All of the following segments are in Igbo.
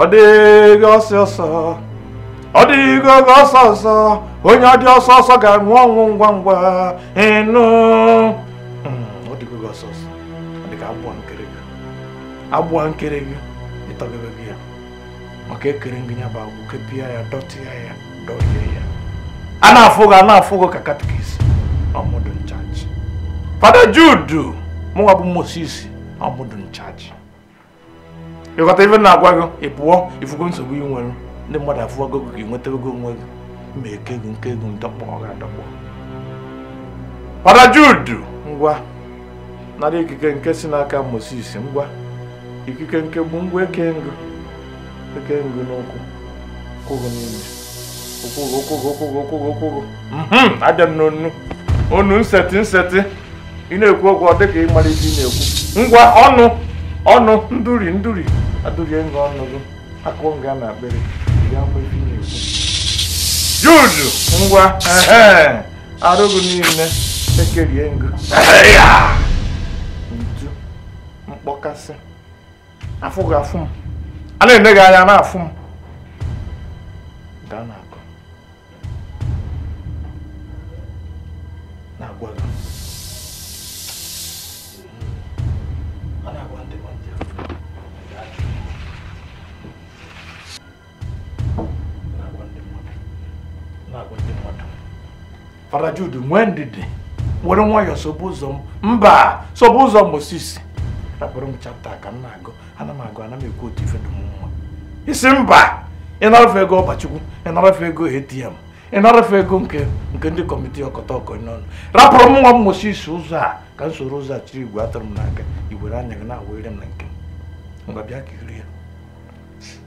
ọ dịghị ọsọ ọsọ ọ dịghị oge ọsọ ọsọ onye dị ọsọ ọsọ ga-anwụ ọnwụ ngwa ngwa ịnụ hmm, ọ dịghị oge ọsọ ọsọ ọ dịghị agbụ nkere gị agbụ nkere gị ịtọgebe gị ya maka ekere ngị ya bụ agbụ kepịa ya dọtịa ya dọlie ya a na-afụ gị a na-afụ gị ka katikis ọ mụ dụ in charge Fada Jude mụnwa bụ Moses ọ mụ dụ in charge ị ghọta ife na-agwa gị ị pụọ ị fụgo nsogbu ị nwere ndị mmadụ afụwago gị ka ị nwetago onwe gị ma eke gị nke ego ndọkpọ ọ ga-adọkpọ Fada Jude ngwa nara ikike nke si n'aka Moses ngwa ikike nke bụ ngwa eke ngụ eke ngụ n'ụkwụ kwụrụ n'ime abịa m n'ọnụ ọnụ nseti nseti ị na-ekwu okwu ọ dị ka ị mara ihe ị na-ekwu ngwa ọnụ ọnụ nduri nduri adụrie nga ọnụ gị akụ nga na akpịrị ya mgbe ihe ị na-ekwu Jude ngwa arụ gị niile ekerie ngụ ntu mkpọkasị afụ gị afụ m a na-ene gị anya na-afụ m ga na-akọ na-agwa gị Fada Jude nwee ndidi were nwayọọ sobe ụzọ m mba sobe ụzọ Moses rapụrụ m chapta ka m na-agụ ana m agụ ana m ekwu otu ife dị m mma ị sị mba ị narafe ego ọba Chukwu ị narafe ego ATM ị narafe ego nke nke ndị kọmiti ọkọta ọkọ n'ọnụ rapụrụ mụnwa Moses ụzọ a ka m soro ụzọ a chiri igwe atụrụ m n'aka i were anya gị na-awere m na nke m ngwa bịa ka i rie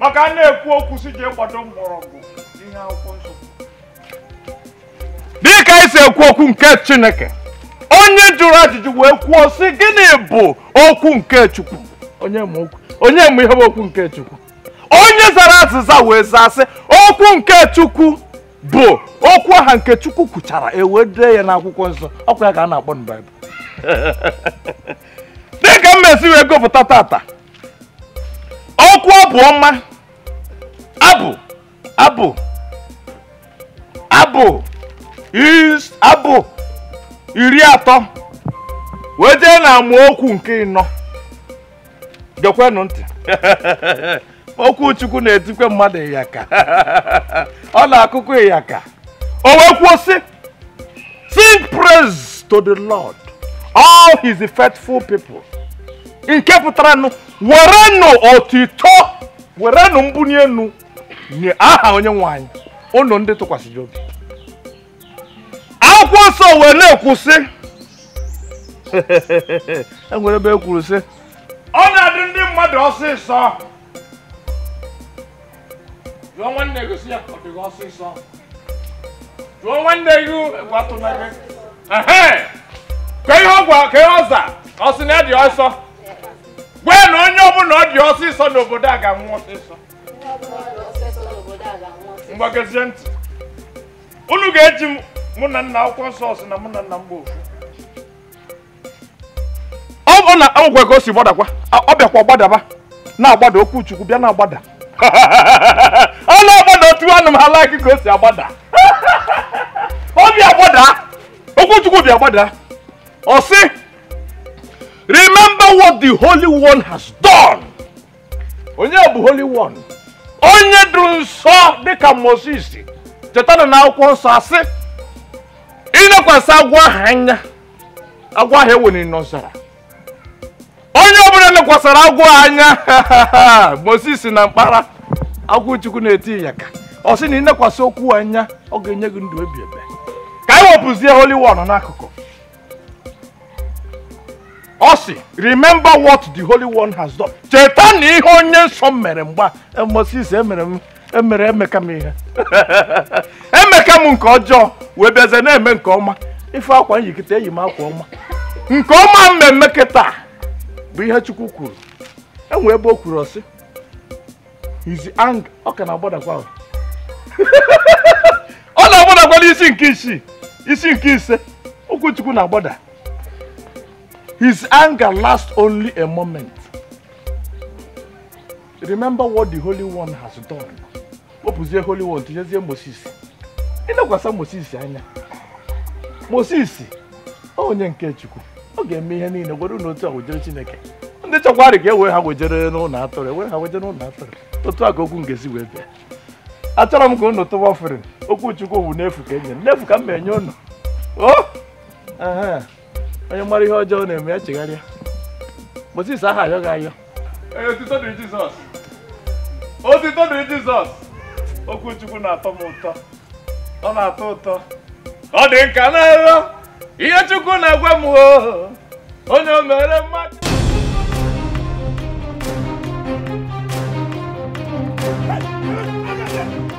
maka a na-ekwu okwu si jee gbado mgbọrọgwụ ihe akwụkwọ nsọ dịka anyị si ekwu okwu nke chineke onye jụrụ ajụjụ wee kwuo sị gịnị bụ okwu nke chukwu onye ma okwu onye ma ihe bụ okwu nke chukwu onye zara azịza wee zaa sị okwu nke chukwu bụ okwu aha nke chukwu kwuchara e wee dee ya n'akwụkwọ nsọ ọ kwa ya ka a na-akpọ na baịbụl dịka m mesi wee gụpụta tata okwu abụ ọma abụ abụ abụ abụ iri atọ wee jee na amaokwu nke ịnọ gekwenụ ntị okwu chukwu na-etikwe mmadụ ịyaka ọ na-akụkọ ịyaka o wee kwuo sị Sing praise to the Lord, all his faithful people. Nke pụtara nụ, werenụ otito, werenụ mbuni enu nye aha onye nwe anyị, unu ndị tụkwasịrị obi. Akwụkwọ nsọ wee na-ekwu sị, enwere ebe e kwuru sị, ọ na-adị ndị mmadụ ọsịsọ jụọ nwanne gị sị ya ọ dị gị ọsịsọ jụọ nwanne gị egwu atụla gị ehe kee ihe ọ gwa kee ihe ọ za ọ sị na ya dị ọsọ gwa ya na onye ọbụla ọ dị ọsịsọ n'obodo a ga-anwụ ọsịsọ ngwa geezie ntị unu ga-eji m mụ na nna akwụkwọ nsọ sị na mụ na nna m bụ ofu ọ na agwụkwa ka o si gbadakwa ọ bịakwa gbadaba na-agbada okwu chukwu bịa na-agbada ọ na-agbada otu anụ m ha like ka o si agbada ọ bịa gbada okwu chukwu bịa gbada ọ sị remember what the holy one has done onye bụ holy one onye dụ nsọ dịka moses chetanụ na akwụkwọ nsọ asị i nekwasị agwọ ahụ anya agwọ ahụ e weniri n'ọzara onye ọbụla lekwasara agwọ anya Moses na mkpara agwọ Chukwu na-eti ya aka ọ sị na ị nekwasị okwu a anya ọ ga-enye gị ndụ ebeebe ka anyị wepụzie holy one n'akụkụ ọ sị remember what the holy one has done chetanụ ihe onye nsọ mere m bụ Moses emere m emere emeka m ihe emeka m nke ọjọọ wee bịazie na-eme nke ọma ife akwa m yi kịta eyi m akwa ọma nke ọma m na-eme kịta bụ ihe chukwu kwuru e nwee ebe o kwuru ọ sị his anger ọ ka na-agbadakwa ọ na-agbadakwa n'isi nke isii isi nke ise okwu chukwu na-agbada His anger lasts only a moment. remember what the holy one has done wepụzie holy one tinyezie moses i nekwasa moses anya moses onye nke chukwu ọ ga-eme ihe niile gwere na otu a wejere chineke ndị chọkwara ka e wee ha wejere n'ụlọ atụrụ e wee ha wejere n'ụlọ atụrụ otu a ka okwu ngezi wee bịa achọrọ m ka unu tụwa offering okwu chukwu bụ n'efu ka e nye n'efu ka m na-enye unu o oh! onye mara ihe ọjọọ na-eme ya chegharịa Moses a ha-ayọ gị ayọ otito dịrị Jizọs otito dịrị Jizọs okwu Chukwu na-atọ m ụtọ ọ na-atọ ụtọ ọ dị m ka na nrọ ihe Chukwu na-agwa m onye o mere mmadụ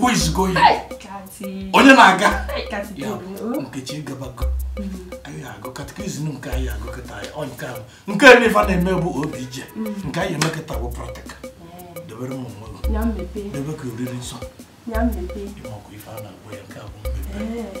who is going onye na-aga nkechi gabago anyị agụ katikizm nke anyị agụkọta ya ọ nke ahụ nke ebe ife na-eme bụ obi ije nke anyị emekọta bụ practical debere m onwe gị debe ka oriri nsọ ị makwa ife a na-agwa ya nke a bụ mmepe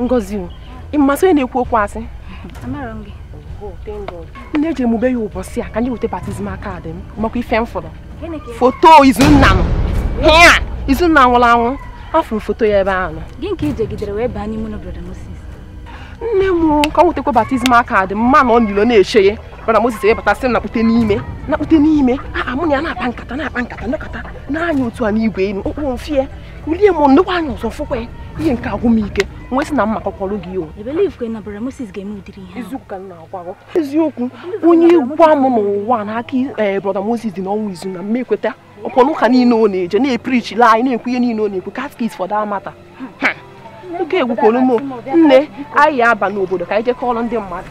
ngozi o ị masị onye na-ekwu okwu asị nne ejee mụ be ya ụbọchị a ka anyị weta baptizim kaadị m ị makwa ife m fụrụ foto izunna m hịa izunna nwụrụ anwụ afụrụ m foto ya ebe ahụ gịnị ka i jegidere wee baa n'ime ụlọ brọda Moses nne m ka m wetakwa baptizim kaadị m ma m nọ n'ilo na-eche ya brọda Moses wee bata sị m na-akpụte n'ime na-akpụte n'ime a mụ na ya na-akpa nkata na-akpa nkata nekata anya otu a n'igwe enu okpuru mfie ulie m nekwa anya ọzọ fụkwa ya ihe nke a agwụ m ike m wee sị na m ma-akọkwọrọ gị o eziokwu onye gwa m n'ụwa na aka eh, brọda Moses dị n'ọnwụ Izunna m ma-ekweta ọ kwanụ ụka niile ọ na-eje na-eprichila anyị na-ekwu ihe niile ọ na-ekwu catechist for that matter ike gwụkwọrọ m nne anyị aba n'obodo ka anyị jee kọọrọ ndị mmadụ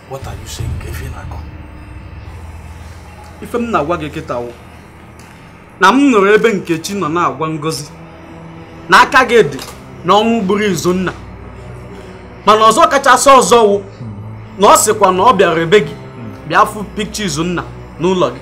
What are you saying? Ife ị na-akọ. Ife m na-agwa gị kịta wụ na m nụrụ ebe Nkechi nọ na-agwa Ngozi na aka gị dị n'ọnwụ gburu Izunna mana ọzọ kachasị ọzọ wụ na ọ sịkwa na ọ bịara ebe gị bịa fụ pikcha Izunna n'ụlọ gị.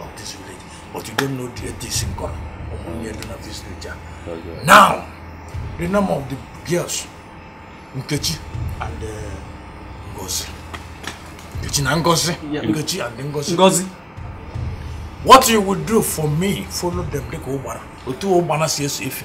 of this village but you don't know the ethics in God ụmụnne dị na this village now the name of the girls Nkechi and uh, Ngozi Nkechi na Ngozi Nkechi and Ngozi Ngozi what you would do for me follow them dịka ụgbana otu ụgbana si eso efi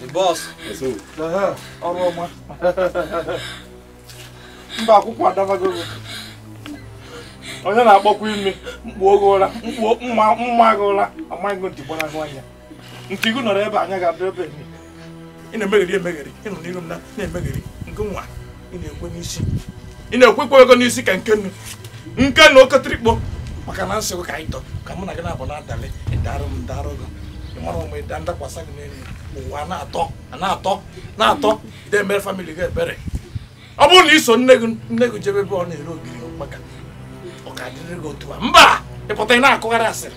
The boss. Ọrụ ọma. Mba akwụkwọ adabago gị. Onye na-akpọkwa imi mkpu oge ụra mkpu m maa m maa gị ụra a maa gị ntị gbanahụ anya. Ntị gị nọrọ ebe anya ga-adị ebe ị na-emegheri emegheri ị nọ n'iru m na-emegheri nke nwa. ị na-ekwekwa ego n'isi ka nke nnu nke na oketrikpo maka na nsogbu ka anyị tọ ka mụ na gị na-abụ na-adalị ịdarụ m darụ gị ị mara onwe ị daa m dakwasa gị n'elu ụwa na-atọ na-atọ na-atọ ị dị emere famili gị ebere ọ bụrụ na i so nne gị nne gị jebe ebe ọ na-ere ogiri maka ọ ka dịrị gị otu a mba ị pụta ị na-akụgharị asịrị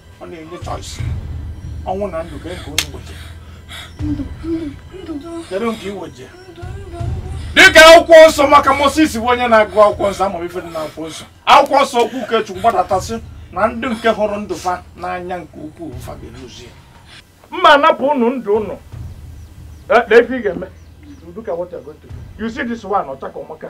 ọ na-enye choice ọnwụ na ndụ kee nke onye gbochie kedu nke i weje dịka akwụkwọ nsọ maka Moses bụ onye na-agụ akwụkwọ nsọ ọ ma ife dị na akwụkwọ nsọ akwụkwọ nsọ okwu nke Chukwu gbadata sị na ndị nke hụrụ ndụ fa n'anya nke ukwuu fa ga-eluzi ya m ma-anapụ unu ndụ unu nee ife ị ga-eme you see this one ọ chaka ọ maka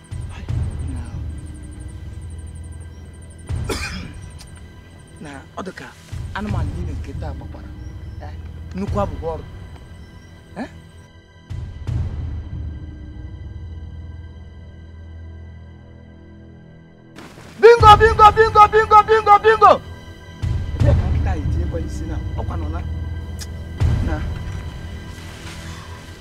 na ọ dị ka anụmanụ niile nke taa gbakwara eh, nnukwu abụhọ ọrụ bingo bingo bingo bingo bingo ebee ka nkịta yi tinye kwa isi na ọkwa nọ na na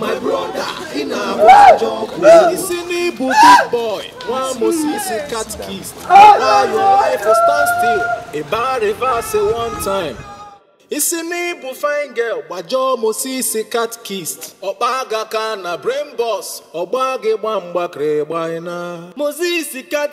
My brother, ị na-abụ ajọ ọkụ ị sị n'ị bụ big boy nwa Moses catechist why your life will stand still ị baa reverse one time ị sị n'ị bụ fine girl gbajọ Moses catechist ọkpa aga ka na brain boss ọgba gị gba mgbakịrị gbaina Moses kat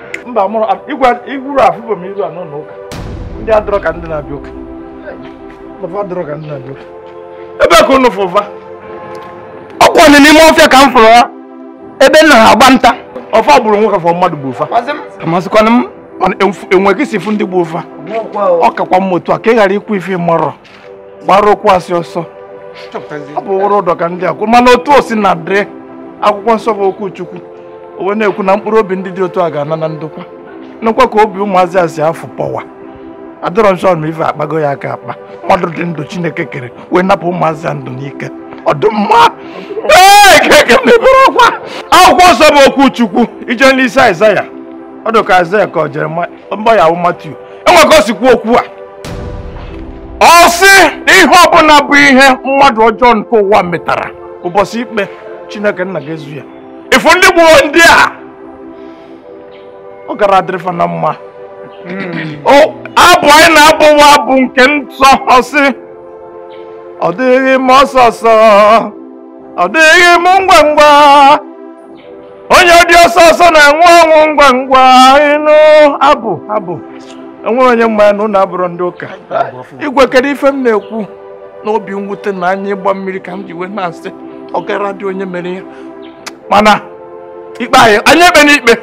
mba mụrụ igwe igwuru afụbụ m iru a n'ụlọ ụka ndị adọrọ ka ndị na-abịa ụka ụlọ fa adọrọ ka ndị na-abịa ụka ebee ka unu fụ va ọkwa nụ n'ime ọfịa ka m fụrụ ha ebe m na-agba nta ọ fa gburu onwe ka ọ mmadụ gbuu fa amazikwanụ m e nwe ka i si fụ ndị gbuu fa ọ kakwa mma otu a ka ị ghara ikwu ife ị marọ gbara okwu asị ọsọ ọ bụ wụrụ ụdọ ka ndị a kwụ mana otu o sina dịrị akwụkwọ nsọ bụ okwu chukwu o wee na-ekwu na mkpụrụ obi ndị dị otu a ga-ana na ndokwa nnukwa ka obi ụmụazị a si afụ pọwa adọrọ nsọ na ife akpago ya aka akpa mmadụ dị ndụ chineke kere wee napụ ụmụazị a ndụ n'ike ọ dị mma akwụkwọ nsọ bụ okwu chukwu ị jee n'isi aịzaya ọ dị ka aịzaya ka ọ Jere maya Matiu e nwe ka o si kwuo okwu a ọ sị na ihe ọbụla bụ ihe mmadụ ọjọọ nke ụwa metara ụbọchị ikpe Chineke nna ga-ezu ya ị fụ ndị gbuo ndị a ọ gara adịrị fa na mma hmm. abụ anyị na-abụwa abụ nke nsọ ọ sị ọ dịghị m ọsọ ọsọ ọ dịghị m ngwa ngwa onye dị ọsọ ọsọ na-enwe ọnwụ ngwa ngwa ị nụ abụ abụ e nwere onye ma na unu abụrụ ndị ụka igwe kedu ife m na-ekwu n'obi mwute na anya ịgba mmiri ka m ji wee na-asị ọ gara adị onye mere ya mana ikpe anyị ekpena ikpe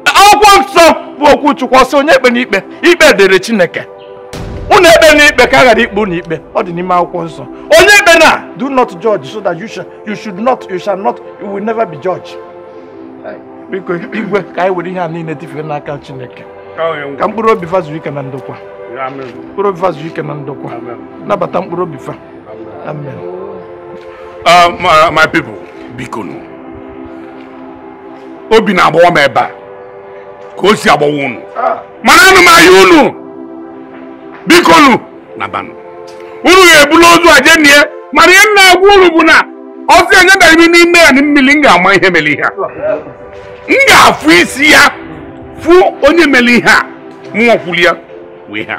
akwụkwọ nsọ bụ okwu chukwu ọ sị onye ekpena ikpe ikpe dịrị chineke unu ekpena ikpe ka a ghara ikpe unu ikpe ọ dị n'ime akwụkwọ nsọ onye ekpena do not judge so that you shall you should not you shall not you will never be judged biko igwe ka anyị were ihe a niile tifee n'aka chineke ka mkpụrụ obi fa zuru ike na ndokwa mkpụrụ obi fa zuru ike na ndokwa nabata mkpụrụ obi fa amen uh, my people bikonụ obi na-agbawa m ebe a ka o si agbawa unu ah. mana ana m ayọ unu biko nu nabanụ unu ga-ebulu ozu a jee nie mana ihe m na-agwa unu bụ na ọ sị anya dara ime n'ime ya na mmiri m ga-ama ihe mere ihe a m ga-afụ isi ya fụ onye mere ihe a mụnwa kwuru ya wee ha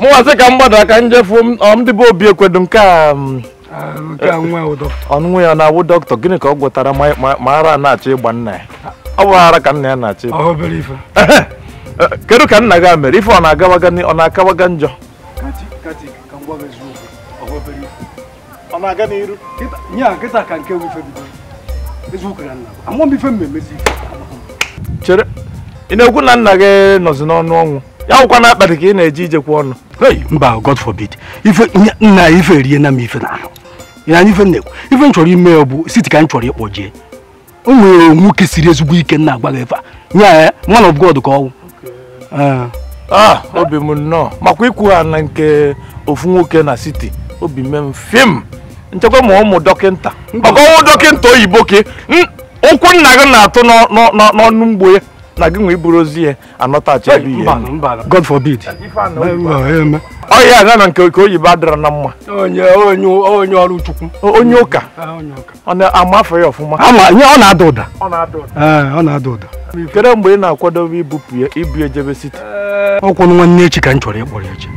mụwa sị ka m gbadara ka m jee fụ ndị be Obiekwe kedu nke nwa ya na-awụ dọkịta gịnị ka ọ gwọtara ma ara na-achọ ịgba nna ya ọ bụ ara ka nna ya na-achọ ịgba kedu ka nna gị mere ife ọ na-akawaga njọ ọ na-aga n'iru nya kịta ka nke wụ ife bido eziokwu na nna amarọ m ife m emezi chere ị na-ekwu na nna gị nọzi n'ọnụ ọnwụ ya nwụkwa na akpati ka ị na-eji ijekwa ọnụ mba God forbid ife nna ife rie na m ife na ahụ ya anyị ife na-ekwu ife m chọrọ ime ya bụ siti ka m chọrọ ịkpọje ya o nwere nwoke siri ezigbo ike m na-agwa gị ife a nya man of God ka ọ wụ ah. ah obi m nnọọ makwa ikwu ha na nke ofu nwoke na siti obi mee m fim m chekwa ma ọ wụ dọkịta maka ọ wụ dọkịta oyibo ke ụkwụ nna gị na-atụ n'ọnụ mgbo ya na gị nwe iburu ozu ya anatachi ebe ihe God forbid ọ ya-aga na nke oyibo adịrọ na mma onye ọrụ Chukwu onye ụka ọ na-ama ife ya ọfụma ama ihe ọ na-ada ụda ọ na-ada ụda ee ọ na-ada ụda kedu mgbe ị na-akwadobe ibupụ ya ibu ejebe siti ọ kwanụ nwanne echi ka m chọrọ ịkpọrọ ya echi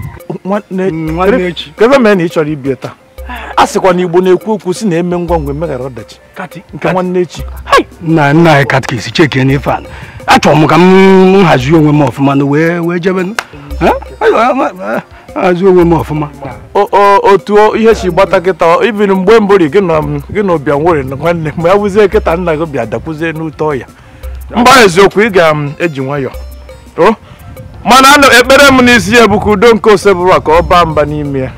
nwanne nwanne echi. kedu mee na ị chọrọ ibu ya taa a sịkwa na Igbo na-ekwu okwu sị na emee ngwa ngwa emeghara ọdachi nke nwanne echi nna nna anyị katikis chekene ife a achọrọ m ka m hazie onwe m ọfụma na wee wee jebe hazie onwe m ọfụma otu ihe si gbata kịta even mgbe mbụ ri gị na ụbịa nwere nwanne mgbe ya wụzie kịta nna gị bịa dakwuzie n'ute ọya mba eziokwu ị ga-eji nwayọọ mana ekpere m n'isi ya bụ ka udo nke Osebụrụwa ka ọ baa mba n'ime ya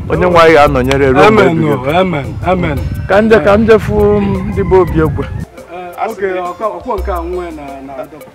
onye nwe anyị ga-anọnyere ruo mgbe ebighị ka m jee ka m jee fụ ndị be Obiekwe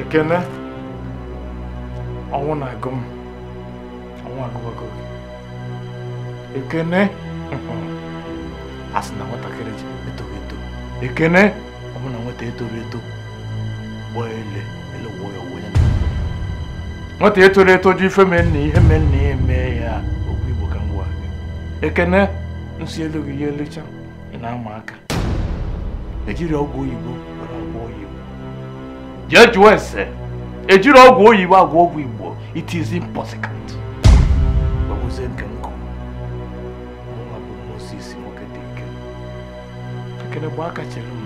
ekene ọnwụ na-agụ m ọnwụ agụwago m ekene a sị na nwatakịrị etoghị eto ekene ọ bụ na nwata etoro eto gbaa ele ele wụọ ya onwe ya nwata etoro eto ji ife mee nna ihe mee nna ya emee ya okwu igbo ka m gwa gị ekene nsị elu gị ya elecha ị na-ama aka ejiri ọgwụ oyibo were agwọ oyibo jee jụọ ese ejiro ọgwụ oyibo agwọ ọgwụ igbo it is impossible gbagozie nke m ekene gbaa aka chere m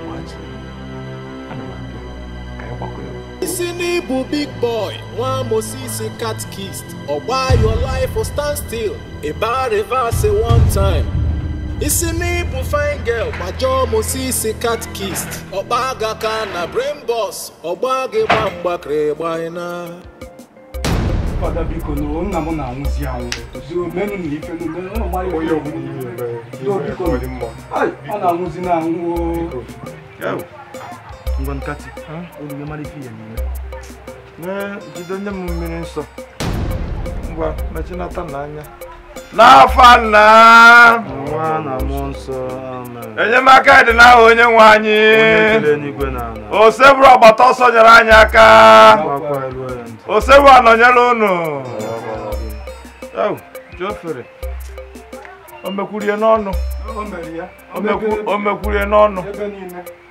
gbaa chere m ana m abịa ka anyị gbakọ ya ị sị na ị bụ big boy nwa moses catechist ọ gbaa your life for stand still ị baa reverse one time ị sị na ị bụ fine girl gbajọọ moses catechist ọ gbaa aga ka na brain box ọ gbaa gị gba mgbakịrị gbanyena Father biko nu nna m na-anwụzi anwụ biko menụ na ife no menụ ụlọ mmadụ onye ọbụla ihe mere Do ihe biko. ọ dị mma Ai, ọ na-anwụzi na anwụ o. ngwa kati olu gị mara ife ihe n'ime na jide nye m mmiri nsọ ngwa mechinata n'anya n'afa nna enyemaka dị n'aha onye nwe anyị osebụrụwa gbata ọsọ nyere anyị aka osebụrụwa nọnyere unu o mekwurie n'ọnụ o mekwurie n'ọnụ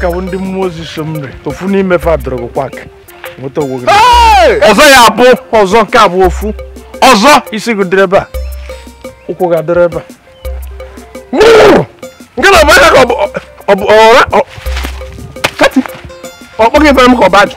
ka bụ ndị mmụọ ozi so m ofu n'ime fa dọrọ gị kwak nweta onwe gị ọzọ ya bụ ọzọ nke a bụ ofu ọzọ isi gị dịrị ebe a ụkwụ gị adịrị ebe a nke na ọbara ka ọ bụ ọra kati ọ kpọghị ebe m ka ọ bụ ajụ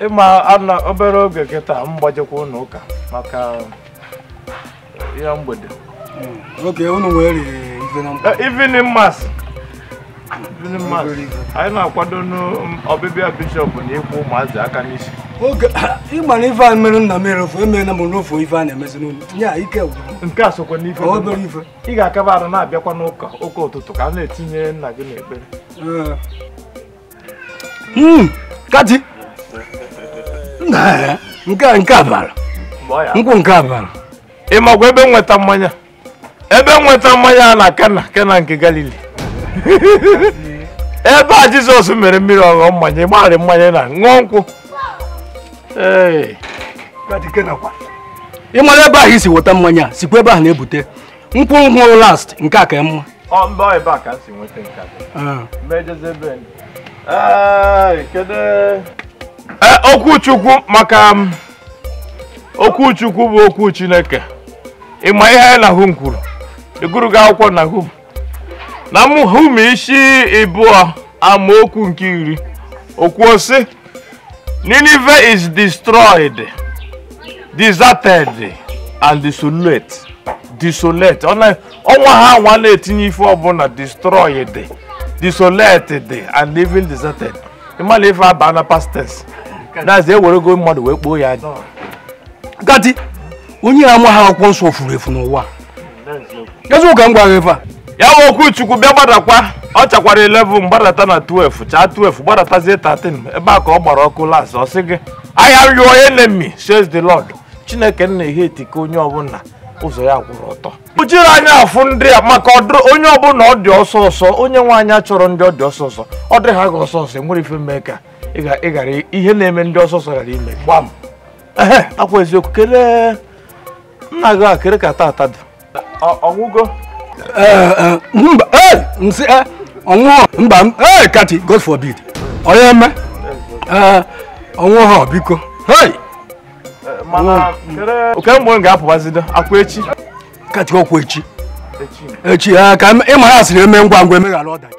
ị ma na obere oge kịta m ga-ejekwa ụlọ ụka maka ụka mgbede oge unu nwere evening mass evening mass anyị na-akwado n'ọbịbịa bishọp na ịkwụ ụmụazị aka n'isi oge ị ma na ife a mere nna m erefu emeela m n'ofu ife a na-emezi n'ụlọ nye a ike nke a sokwa n'ife obere ife ị ga-akaba arụ na-abịakwa n'ụka ụka ụtụtụ ka a na-etinye nna gị n'ekpere Hmm, kati nke a nke a bara nkwụ nke a bara ị makwa ebe m weta mmanya ebe m weta mmanya na kena kena nke galili ebe jizọs mere mmiri ọ ghọọ mmanya ịgbarị mmanya na ṅụọ nkwụ ị mara ebe ahụ i si weta mmanya sikwa ebe ahụ na-ebute nkwụ hụrụ last nke a ka mma ọ mba ebe a ka m si nweta nke a ah. mejeze ebe kedu eh, okwu chukwu maka um, okwu chukwu bụ okwu chineke ịma ihe Nahum kwuru ịgụrụ gị akwụkwọ Nahum Nahum isi ịbụọ amaokwu nke iri o kwu sị Nineveh is destroyed, deserted, and desolate. Desolate. Ọnwa ha nwa na-etinye ife ọbụla destroyed, desolated, and even deserted. Ịma na ife a ba na past tense. That's ewerego mmadụ wee kpoo ya. Kati, onye amaha akwụkwọ nsọ furu efu n'ụwa. eziokwu ka m gwara ife a ya bụ okwu chukwu bịa gbadakwa ọ chakwara 11 gbadata na 12 chaa 12 gbadatazie 13 ebe a ka ọ gbara ọkụ last ọ sị gị I am your enemy says the lord chineke nna ihe etike onye ọbụla ụzọ ya kwụrụ ọtọ kpuchiri anya afụ ndị a maka onye ọbụla ọ dị ọsọ ọsọ onye nwe anyị achọrọ ndị ọ dị ọsọ ọsọ ọ dị ha ga ọsọ ọsọ enwere ife mee ka ị ghara ihe na-eme ndị ọsọ ọsọ ghara ime gbam akwa eziokwu kelee nna gị a kere ka tata dị ọ nwụgo mba ee m sị e ọ nwụghọ mba ee kati god forbid onye eme ee ọ nwụha biko hei mana oke mgbe m ga-apụbazido ọkwa echi kati ọkwa echi echi ee ka ịma ha sịrị e mee ngwa ngwa e meghara ọdachi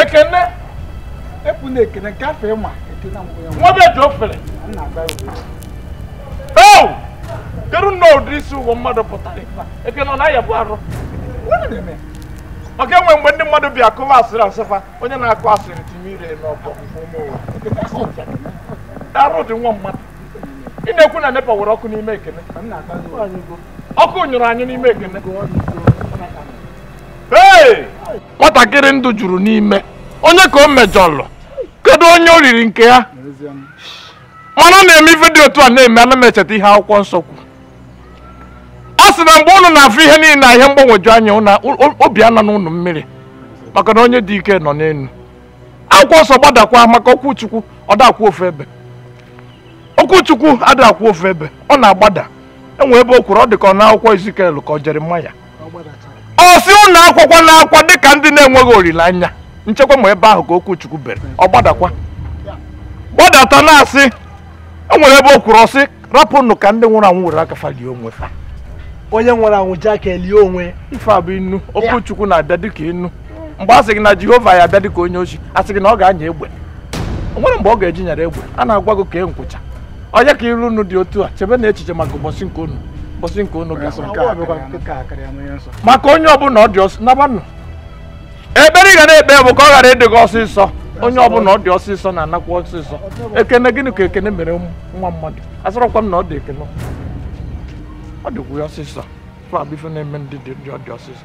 ekene epụ na ekene nke afọ ịma ekene amụghị ya nwa be ji ofere nna agba o kedu nnọọ ụdị isi ụgwọ mmadụ pụtara ekene ọ na-ayabu arụ ọ ga-enwe mgbe ndị mmadụ bịa kụwa asịrị a sị fa onye na-akụ asịrị tinye ire n'ọbọ arụ dị nwa mmadụ ị na-ekwu na nepa were ọkụ n'ime ekene ọkụ nyụrụ anyị n'ime ekene nwatakịrị ndụ juru n'ime onye ka o mejọlụ kedu onye o riri nke ya mana ọ na-eme ife dị otu a na-eme ana m echeta ihe akwụkwọ nsọ kwu ọ sị na mgbe unu na-afụ ihe niile na ihe mgbagwoju anya obi anọna unu mmiri maka na onye dị ike nọ n'elu akwụkwọ nsọ gbadakwa maka okwu chukwu ọ da akwụ ofu ebe okwu chukwu ada akwụ ofu ebe ọ na-agbada e nwe ebe o kwuru ọ dị ka ọ n'akwụkwọ Ezikiel ka ọ Jeremaya ọ sị unu akwakwana akwa dịka ndị na-enweghị olileanya m chekwa ma ebe ahụ ka okwu Chukwu bere ọ gbadakwa gbadata na-asị e nwere ebe o kwuru ọ sị rapụnụ ka ndị nwụrụ anwụ were aka fa lie onwe fa onye nwụrụ anwụ ji aka elie onwe ife a bụ inu okwu Chukwu na-abịa dịka inu mgbe a sị gị na jehova ya-abịa dịka onye oshi a sị gị na ọ ga-anya egbe o nwere mgbe ọ ga-eji nyara egbe a na-agwa gị kee nkwụcha onye ka iru unu dị otu a chebenụ echiche maka ụbọchị nke unu ụbọchị nke unu ga maka onye ọbụla ọ dị ọsọ nabanụ ekpere ị ga na-ekpe bụ ka ọ ghara ịdị gị ọsịsọ onye ọbụla ọ dị ọsịsọ na-anakwa ọsịsọ ekene gịnị ka ekene mere nwa mmadụ asịrọkwa m na ọ dị ekene ọ dịkwu ya ọsịsọ fa bụ ife na-eme ndị dị ọ dị ọsịsọ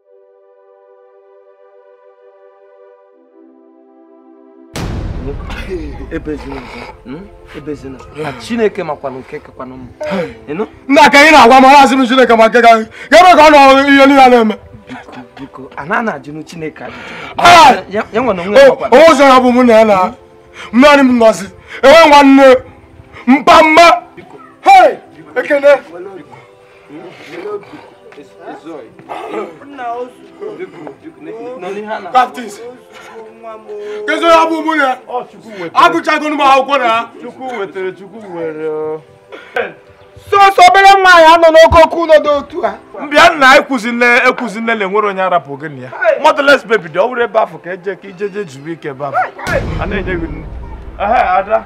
Hmm? chineke makwanụ nke kakwanụ m nna ka anyị na-agwa mara asị m chineke ma nke ka anyị ebe ka ọ nọ ihe niile na-eme biko a na-ajụnụ chineke onwe ụzọ ya bụ mụ na ya na mmadụ m nọzi enwe nwanne mpa mma ekene Baptist. Kedu onye abụ mụ na agụchago m akwụkwọ na Chukwu wetara Chukwu were o. sọsọ obere nwa anyị anọ n'oke oke ụlọ dị otu a m bịa nna ekwuzi nne ekwuzi nne na e nwerọ onye a rapụ gị na ya motherless baby dị ọ bụrụ ebe afụ ka eje ka i jeje zuru ike ebe afụ a na-enye gị nni. Ehe, ada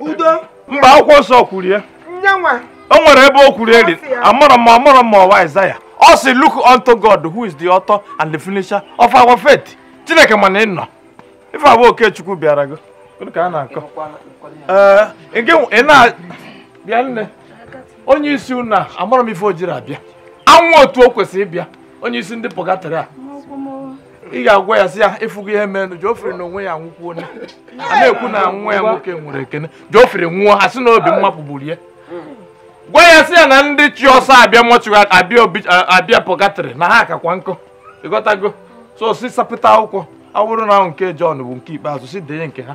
udo mba akwụkwọ nsọ kwuru ya nyanwa o nwere ebe o kwuru eri amarọ m amarọ m ọ wụ Aịzaya ọ sị look unto God who is the author and the finisher of our faith Chineke ma na ị nọ ife a bụ Okechukwu bịara gị ka a na-akọ ee ị na bịa nne onye isi unu a amarọ m ife o jiri abịa anwụ otu o kwesịrị ịbịa onye isi ndị purgatory a ị ga-agwa ya sị ya ịfụgo ihe merenụ Geoffrey na onwe ya anwụkwuo a na-ekwu na nwa ya nwoke nwụrụ ekene Geoffrey nwụọ ha sị na obi mmapụ gburu ya gwa ya sị ya na ndị ji ọsọ abịa mortuary abịa purgatory na ha akakwa nkụ ịghọtago so sị sapụta akwụkwọ ọ bụrụ na nke John bụ nke ikpeazụ sị denye nke ha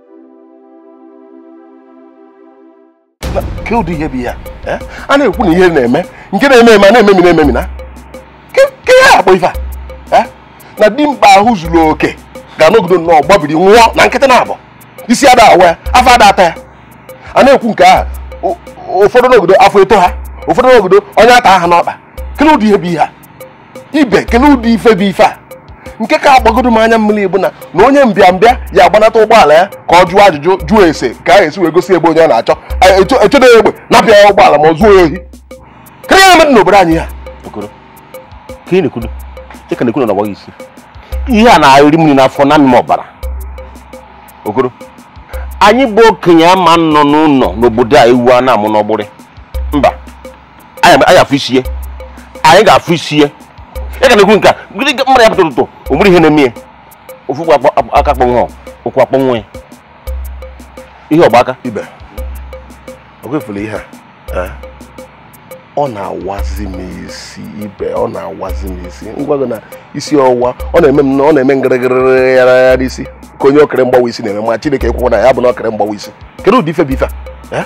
ke ụdị ihe bụ ihe eh? a na-ekwu na ihe na-eme nke na-eme eme a na-ememina ememina ke ihe a kpọ ife a eh? na dimkpa ahụ zuru oke ga-anọgido nnọọ gbabiri nwụọ na nkịtị na-abụ isi ada awa ya afọ ada ata ya a na-ekwu nke ahụ ụfọdụ nọgido afọ etoo ha ụfọdụ nọgido ọnya ata ha n'ọkpa kele ụdị ihe bụ ihe a ibe kele ụdị ife bụ ife a nke ka agbagodo m anya mmiri bụ na onye mbịambịa ya-agbanata ụgbọala ya ka ọ jụọ ajụjụ jụọ ese ka e si wee gosi ebe onye ọ na-achọ e chedo ya egbe napụ ya ụgbọala ma zuo ya ohi karịa ya mmadụ n'obodo anyị ya ihe a na-eri m nni n'afọ na-amị m ọbara okoro anyị bụ okenye ama-anọ n'ụlọ n'obodo a ewu ana-amụ n'ọgbụrị mba anyị afụ isi ya anyị ga-afụ isi ya ya ka na-ekwu nke a mmadụ ya pụta ụtụtụ o nwere ihe na-eme ya ofu aka akpọnwụ ụkwụ akpọnwụ ya ihe ọgba aka ibe okwefula ihe a eh? ọ na-awazi m isi ibe ọ na-awazi m isi ngwa gị na isi ọwụwa ọ na-eme m ọ na-eme ngịrịgịrị ya n'isi ka onye okiri mgbawa isi na-eme ma chineke ekwekwa na ya bụ na okiri mgbawa isi kedu ụdị ife bụ ife a eh?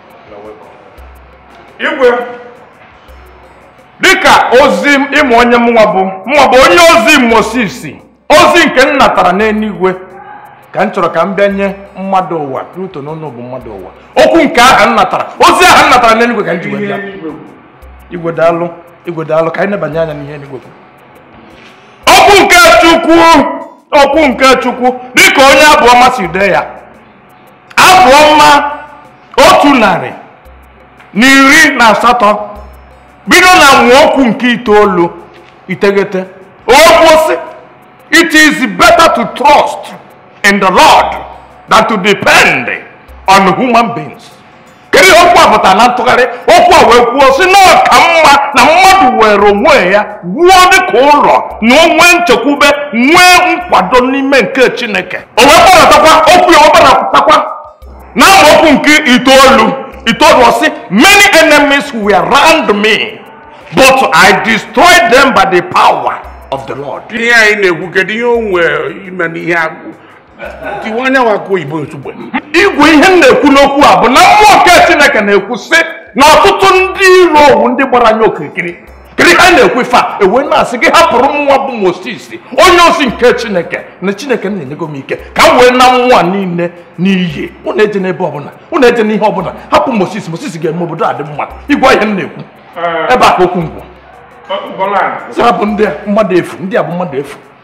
igwe dịka ozi ịmụ onye mụnwa bụ mụnwa bụ onye ozi Moses ozi nke m natara n'eluigwe ka m chọrọ ka m bịa nye mmadụ ụwa Pluto n'ụlọ bụ mmadụ ụwa okwu nke ahụ m natara ozi ahụ m natara n'eluigwe ka m ji wee bịa igwe daalụ igwe daalụ ka anyị nebanye anya n'ihe eluigwe okwu nke Chukwu okwu nke Chukwu dịka onye abụ ọma si dee ya abụ ọma otu narị na iri na asatọ bido na amaokwu nke itoolu iteghete okwu sị it is better to trust in the lord than to depend on human beings kedu ihe okwu a pụtara na ntụgharị okwu a wee kwuo sị na ọ ka mma na mmadụ were onwe ya wuo dịka ụlọ na o nwee nchekwube nwee nkwado n'ime nke chineke o wee gbadatakwa okwu ya ọ gbadatakwa na amaokwu nke itoolu itoolu ọ sị many enemies were round me but i destroyed them by the power of the lord ihe anyị na-ekwu kedu ihe o nwee ime n'ihe agwụ tiwe anya nwa akụ oyibo ozugbo igwe ihe m na-ekwu n'okwu a bụ na mmụọ nke chineke na-ekwu sị na ọtụtụ ndị iro owu ndị gbara anya okirikiri kiri ha na-ekwu ife a e wee na-asị gị hapụrụ mụnwa bụ moses onye ozi nke chineke na chineke m na-enyego m ike ka m wee naa nwa niile n'iyi ụnụ ejena ebe ọbụla ụnụ ejena ihe ọbụla hapụ moses moses ga-eme obodo a dị mma igwe ihe m na-ekwu ebe a ka okwu ngwụ bụ ndị a mmadụ efu ndị a bụ mmadụ efu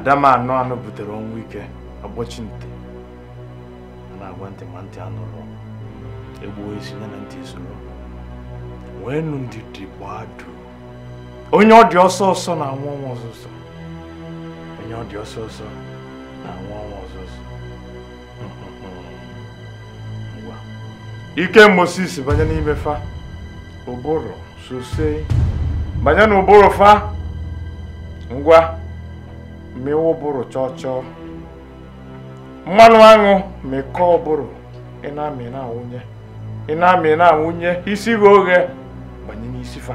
ada m anụ anụ butere ọnwụ ike agbọchi ntị a na-agwa ntị ma ntị anụrọ e gbuo isi ya na ntị soro nweenụ ndidi gbaa duu onye ọ dị ọsọ ọsọ na-anwụ ọnwụ ọsọ ọsọ onye ọ dị ọsọ ọsọ na-anwụ ọnwụ ọsọ ọsọ ike moses banye n'ime fa ụbụrụ sose banye n'ụbụrụ fa ngwa mịwa ụbụrụ chọọ chọọ mmanụ aṅụ mịkọọ ụbụrụ ị na-amị na-awụnye ị na-amị na-awụnye isi ghee oghe banye n'isi fa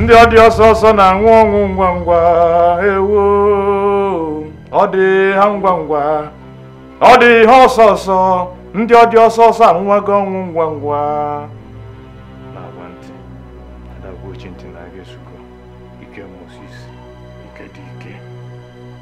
ndị ọ dị ọsọ ọsọ na-anwụ ọnwụ ngwa ngwa ewo ọ dị ha ngwa ngwa ọ dị ha ọsọ ọsọ ndị ọ dị ọsọ ọsọ anwụwago ọnwụ ngwa ngwa na-agwa ntị ada-agwa ochi ntị na agha esugo ike Moses ike dị ike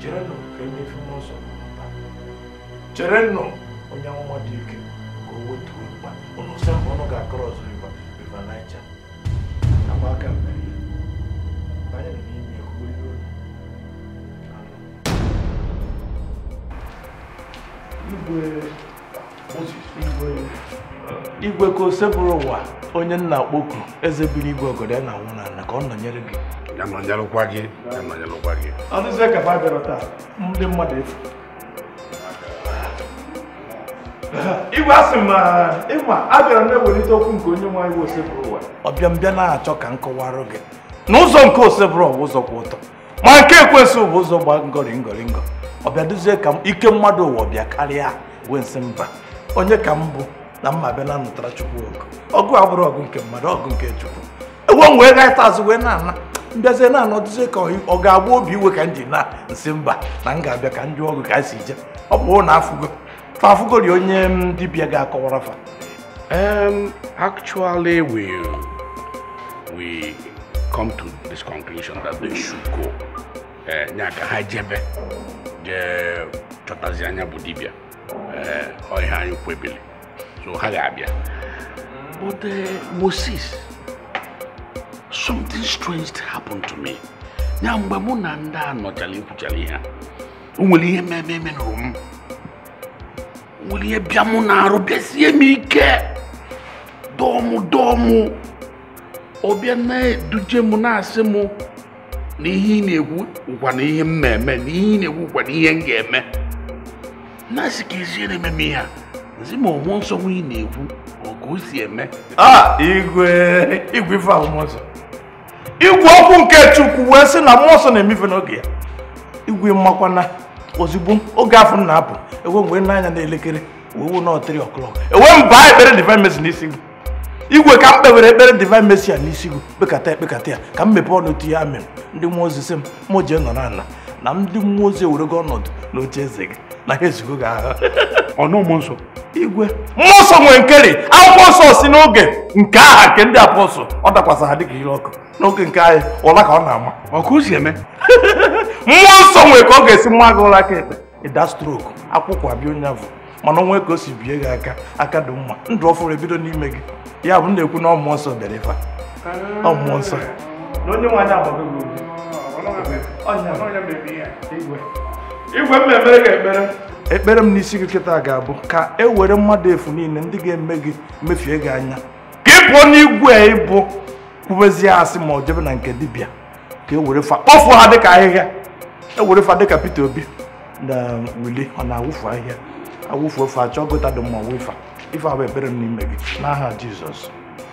cherenụ ka emefe mmụọ nsọ pụta cherenụ onye amụma dị ike ka o wetuo mkpa ụnụ sị mgbe ụnụ ga-across River River Niger agba aka mmeri ya banye nọ n'ime ya kwuo ihe onye igwe igwe ka Osebụrụwa onye m na-akpọku eze biri igwe ogodo ya na-awụ n'ana ka ọ nọnyere gị ya nọnyelụkwa gị ya nọnyelụkwa gị ọ dịzie ka ha bịara taa ndị mmadụ efu igwe asị ma ịma a bịara na-ewelite okwu nke onye nwe anyị Osebụrụwa ọ bịa m bịa na-achọ ka m kọwara gị na ụzọ nke Osebụrụwa ụzọ kwụ ọtọ ma nke ekwensu bụ ụzọ gba ngọrị ngọrị ngọ ọ bịa dịzie ka ike mmadụ ụwa bịa karịa wee m sị mba onye ka m bụ na m ma-abịa na-anụtara chukwu ọgụ ọgụ abụrọ ọgụ nke mmadụ ọgụ nke chukwu ewe m wee gaịta azụ wee na-ana m bịazie na-ana ọ dịzie ka ọ ga-agba obi iwe ka m ji na m sị mba na m ga-abịa ka m jụọ ọgụ ka anyị si je ọ bụ na afụgo afụgori onye dibịa ga-akọwara fa Um, actually, we we come to this conclusion that they should go. Eh, nya ka ha jebe je chọtazi nya bụ dibịa eh, ọ ihe anyị kwebiri so ha ga-abịa but eh, Moses something strange happened to me nya mgbe mụ na ndị a nọchara kwuchara ihe a o nwere ihe mee m eme na m nwere ihe bịa mụ n'arụ bịasie m ike dọọ mụ dọọ mụ ọ bịa na-eduje m na-asị m na ihe ị na-ekwu ụkwa na ihe m na-eme na ihe ị na-ekwu ụkwa na ihe m ga-eme na-asị ka ezie na-eme m ihe a zi ma ọ mmụọ nsọ nwa ị na-ekwu ọ ka o si eme ah, igwe igwe ife ahụ mmụọ nsọ igwe okwu nke chukwu wee sị na mmụọ nsọ na-eme ife n'oge ya igwe ị makwa na ozugbo oge afụ m na-apụ ewe m wee nee anya na elekere wee fụ na ọ three o'clock ewe m baa ekpere divine mercy n'isi gị igwe ka m kpewere ekpere divine mercy a n'isi gị kpekata ya kpekata ya ka m mepee ọnụ tinye amen ndị mmụọ ozi sị m mụ jee nọrọ ala na ndị mmụọ ozi ewerego ọnọdụ n'oche eze gị na ha ezugo gị ahụ ọnụ mmụọ nsọ igwe mmụọ nsọ nwere nkeri akwụkwọ nsọ si n'oge nke ha nke ndị apọstụl ọ dakwasa ha dịka ire ọkụ n'oge nke anyị ụla ka ọ na-ama ọkụ si eme mmụọ nsọ nwere ka ọ ga-esi ma gị ụra aka ekpe ị daa strok akwụkwụ abịa onye afụ mana o nwe ka o si bie gị aka aka dị mma ndụ ọfụrụ ebido n'ime gị ya bụ na-ekwu na mmụọ nsọ bịara ife mmụọ nsọ na onye nwe anyị agbago gị obi igwe mmemme ga-emere ekpere m n'isi gị kịta ga-abụ ka e were mmadụ efu niile ndị ga-eme gị mefie gị anya ka ị pụọ n'igwe ị bụ kwubezie asị ma ọ jebe na nke dibịa ka e were fa kpọfuo ha dịka ahịhịa e were fa dịka Peter Obi na Willie ọ na-awụfu ahịhịa awụfu ofe achọ gutter dị mma wụ fa ife a bụ ekpere m n'ime gị n'aha Jizọs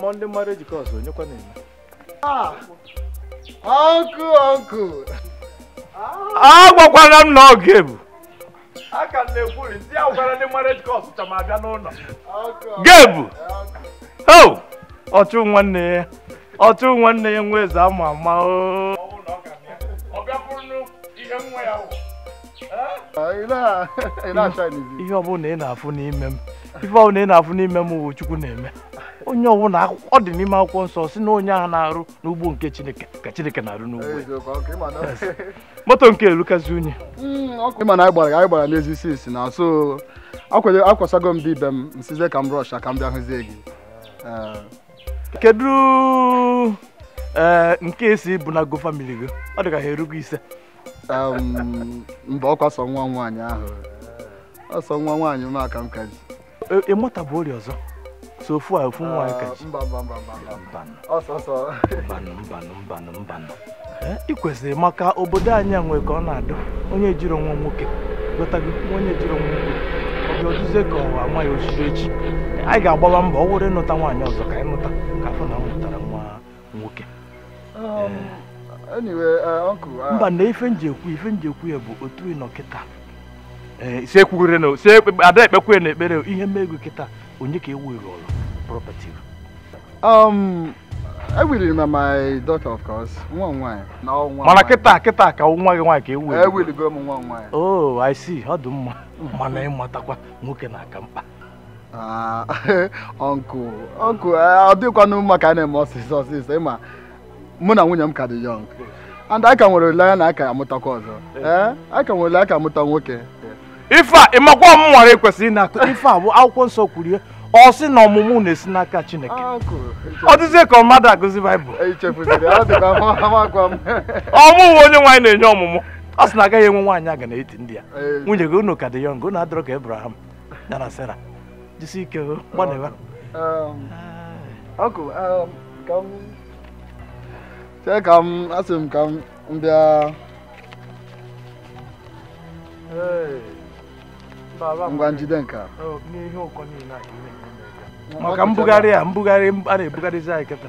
mmụọ ndị mmadụ ejikọ ọzọ onyekwa na-eme ọkụ ọkụ agwakwara m na ọ ga-ebu a ka na-ekwuri ndị ahụ gwara ndị marriage course chọ ma abịa n'ụlọ gebu o ọchụ nwanne ya ọchụ nwanne ya nwa eze ama ama o ihe ọbụla ị na-afụ n'ime m ife ọbụla ị na-afụ n'ime m wụ chukwu na-eme onye ọbụla ọ dị n'ime akwụkwọ nsọ si na onye ahụ na-arụ n'ugbo nke chineke ka chineke na-arụ n'ugbo moto nke elukazi unyi ọkụ ị ma na anyị gbara anyị gbara n'ezi isi isi na so akwado akwasago m dị ibe m m sịzie ka m rush ka m bịa hụzie gị kedu eh, nke esi bụ na go family gị ọ dị ka ha erugo ise mba ọ kwa sọ nwa nwaanyị ahụ ọ sọ nwa nwaanyị m ka m ka ji ị mụta e, e bụ ori ọzọ sọ ofu a ofu nwaanyị ka ị ji mbanụ ị kwesịrị maka obodo anyị nwe ka ọ na-adị onye jirọ nwa nwoke ghọtago onye jirọ nwa nwoke ọ dị ọ dịzie ka ọ wụ ama ya chiri echi anyị ga-agbaba mbọ ọ wụrụ ịnụta nwaanyị ọzọ ka anyị nụta ka a fụ na a mụtara nwa nwoke um, uh, uh, mba na ife m ji ekwu ife m ji ekwu ya bụ otu ị nọ kịta eh, si ekwughere na si a da-ekpekwa n'ekpere ihe mee gị kịta onye ka ị willụrụ property um, e willụrụ m my daughter of course nwa nwaanyị na nwa mana kịta kịta ka nwa gị nwaanyị ka ewu e willigo m nwa nwaanyị oh i see ọ dị mma mana ị matakwa nwoke na-aka mkpa uncle ah, uncle eh, ọ dịkwanụ mma ka a na-eme ọsịsọ ọsịsọ ị ma mụ na nwunye m ka dị young and anyị ka nwere olileanya na a ga-amụtakwa ọzọ eh, a ka nwere olileanya ka a mụta nwoke ife a ị makwa m nwara e kwesịrị ịma ife a bụ akwụkwọ nsọ kwuru ya ọ sị na ọmụmụ na-esi n'aka Chineke ọ dịzie ka mmadụ agụzi Baịbụl ọmụmụ Onyenwe anyị na-enye ọmụmụ ọ sị na a gaghị enwe nwaanyị aga n'etiti ndị ya nwunye gị unu ka dị young unu adịrọ ka Abraham ya na Sarah jisi ike o gbanịwa uncle ka m chee ka m asị m ka m bịa ngwa jide nke a maka mbugharị a mbugharị a na-ebugharịzi anyị kịta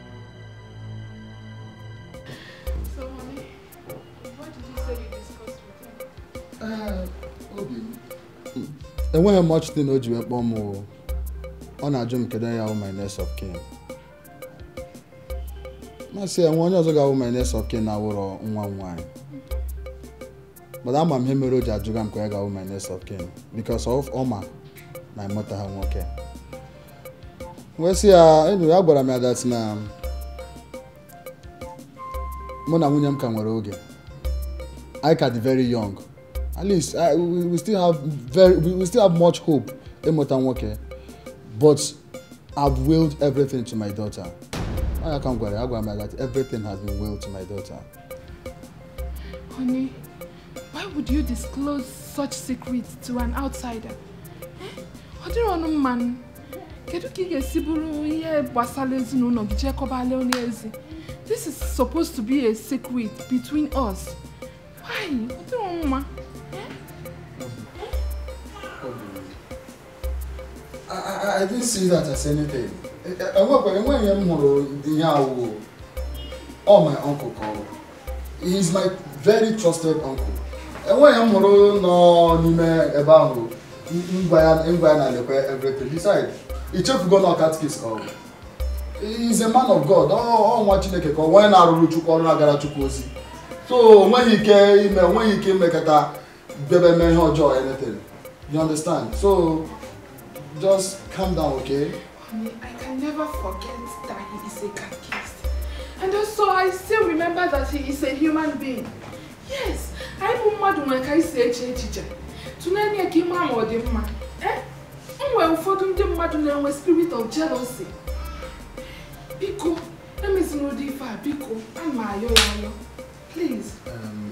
So, mommy, what did you say you discussed with him? Uh, Obi, hmm. enweghị much thing o ji wee kpọọ m ọ na-ajụ m kedu onye wụ my next of kin m asị e nwe onye ọzọ ga-awụ my next of kin na-awụrọ nwa m nwaanyị mana ama m ihe mere o ji ajụga m kee onye ga-awụ my next of kin because of ọ ma na m mụtaha nwoke wee sị ya enyi ya gwara m ya that na mụ na nwunye m ka nwere oge anyị ka dị very young at least I, we, we still have very we, we still have much hope ịmụta nwoke but I've willed everything to my daughter. I can go. I go. Everything has been willed to my daughter. Honey, why would you disclose such secrets to an outsider? Eh? Ọ dịrọnụ mma nụ. Kedu ka ị ga-esi buru ihe gbasara ezinụlọ gị je kọbala onye ezi? This is supposed to be a secret between us. Why? Ọ dịrọnụ mma. I didn't see that as anything. Enwekwa enweghị ihe m hụrụ ihe a wụ ọ my uncle ka ọ wụ. He is my very trusted uncle. Enweghị ihe m hụrụ nọ n'ime ebe ahụ m gwa ya na lekwa everything. Besides, i chefugo na ọ catechist ka ọ wụ. He is a man of God. Ọ nwa Chineke ka ọ wụ onye na-arụrụ Chukwu ọrụ na-agara Chukwu ozi. So o nweghị ike ime o nweghị ike imekata bịaba mee ihe ọjọọ anything you understand so just calm down okay. Honey, I can never forget that he is a catechist and also I still remember that he is a human being yes anyị bụ mmadụ nwere ka anyị si eche echiche tụlee anya ka ị ma ma ọ dị mma eh? e nwere ụfọdụ ndị mmadụ na-enwe spirit of jealousy biko emezina ụdị ife a biko ana m ayọ gị ayọ please um,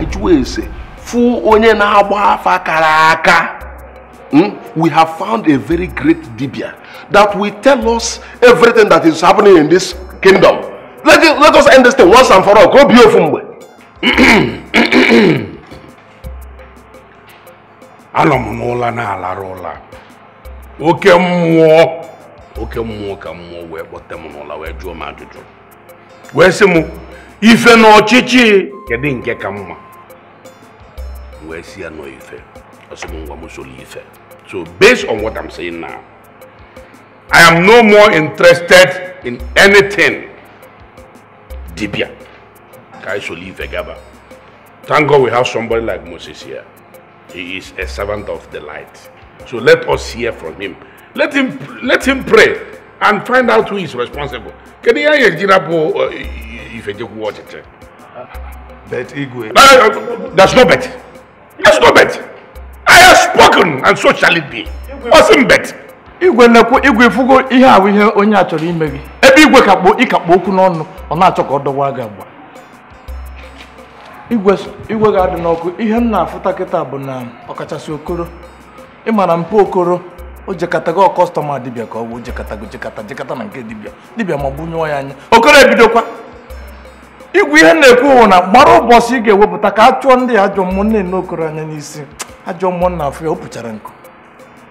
ịjụ ese fụ onye na-agba afa kara aka hmm? we have found a very great dibia that will tell us everything that is happening in this kingdom let, it, let us end this thing once and for all ka o bie ofu mgbe anọ m n'ụla na-alarụ ụla oke mmụọ oke mmụọ ka mmụọ wee kpọte m n'ụla wee jụọ m ajụjụ wee sị m ife na ọchịchị kedu nke ka mma wee sị ya na ọ ife ọ sị m ngwa m soro ife so based on what I'm saying now I am no more interested in anything dibia ka anyị soro ife gaba thank God we have somebody like Moses here He is a servant of the light. So let us hear from him. Let him, let him pray and find out who is responsible. Can you hear Jirapo uh, if you watch it? But Igwe. Uh, there's no but. There's no but. I have spoken and so shall it be. Ọ sị m but. Igwe na-ekwu igwe ị fụgo ihe ahụ ihe onye a chọrọ ime gị ebe igwe ka kpụ ị ka kpụ okwu n'ọnụ ọ na-achọ ka ọ dọwa gị agba igwe ga-adị n'ọkụ ihe m na-afụta kịta bụ na ọkachasị okoro ị ma na mpa okoro o jekọtago customer dibịa ka ọ bụ jekọtago jekọta jekọta na nke dibịa dibịa ma ọ bụ nyụọ ya anya okoro ebidokwa igwe ihe m na-ekwu wụ na mara ụbọchị ị ga-ewepụta ka a chụọ ndị ajọ mmụọ m na-ene okoro anya n'isi ajọ mmụọ m na-afụ ya o puchara nku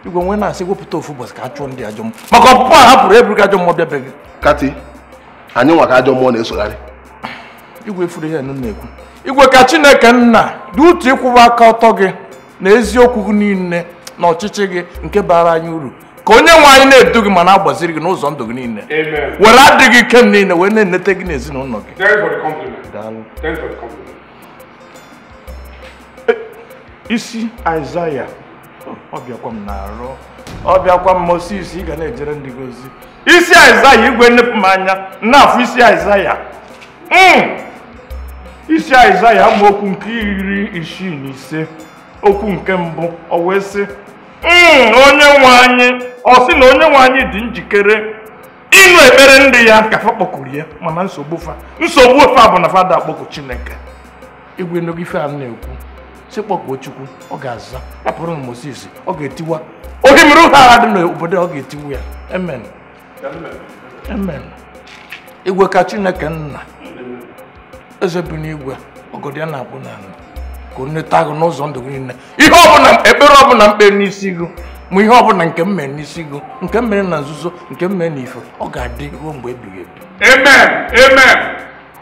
igwe nwe na-asị wepụta ofu ụbọchị ka a chụọ ndị ajọ mmụọ maka ọpụpụ a hapụrụ eburu ka ajọ mmụọ bịabeghị kati anyị nwa ka ajọ mmụọ na-esogharị igwe fụrụ ihe mụ na-ekwu igwe ka chineke nna dị utu ịkwụwa aka ọtọ gị na eziokwu gị niile na ọchịchị gị nke bara anyị uru ka onye nwe anyị na-edu gị ma na-agbaziri gị n'ụzọ ndụ gị niile were adịghị ike m niile wee na-enete gị na ezinụlọ gị isi Aịzaya ọ bịakwa m n'arụ ọ bịakwa m Moses ị ga na-ejere ndị gị ozi isi Aịzaya igwe nnepụ m anya na-afụ isi Aịzaya hmm. isi Aịzaya amaokwu nke iri isii na ise okwu nke mbụ ọ wee sị hmm, onye nwe anyị ọ sị na onye nwe anyị dị njikere ịnụ ekpere ndị ya ka fa kpọkuru ya mana nsogbu fa nsogbu fa bụ na fa ada akpọku Chineke igwe nụgo ife a na-ekwu sị kpọkuo chukwu ọ ga-aza ọ bụrụ na moses ọ ga-etiwa ohimiri uhie agha dị n'obodo ọ ga-etiwa ya amen amen igwe ka chineke nna eze bi n'igwe ọgọdọ ya na-akpụ n'ala ka o neta gị n'ụzọ ndụ gị niile ihe ọbụla ekpere ọbụla m kpe n'isi gị ma ihe ọbụla nke m mere n'isi gị nke m mere na nzuzo nke m mere n'ife ọ ga-adị ruo mgbe ebighị ebi amen amen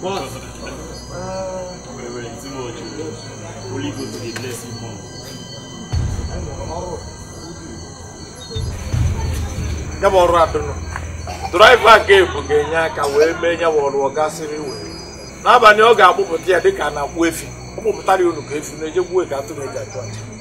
What? Reverend Timothy, Holy Ghost dey bless you more. ya bụ ọrụ adụnụ driver nke ebu ga-enye aka wee mee ya bụ ọrụ ọ gasịrị wee n'abalị ọ ga-akpụpụta ya dịka a na-akpụ efi ọ kpụpụtara ya unu ka efi na-eje igbu ka atụrụ eji achụ aja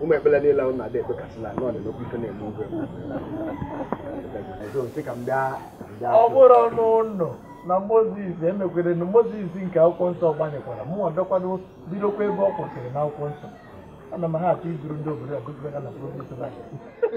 ụmụ ekpere niile ahụ na-adị ekpe kasịla na ọ dị n'okwu ife na-eme oge ọ bụrụ ọnụ ụlọ na moses emekwere na moses nke akwụkwọ nsọ gbanyekwara mbọ kwado bidokwa ebe ọ kwụsịrị n'akwụkwọ nsọ ana m ha achọ iduru ndị obodo a gụzibega na province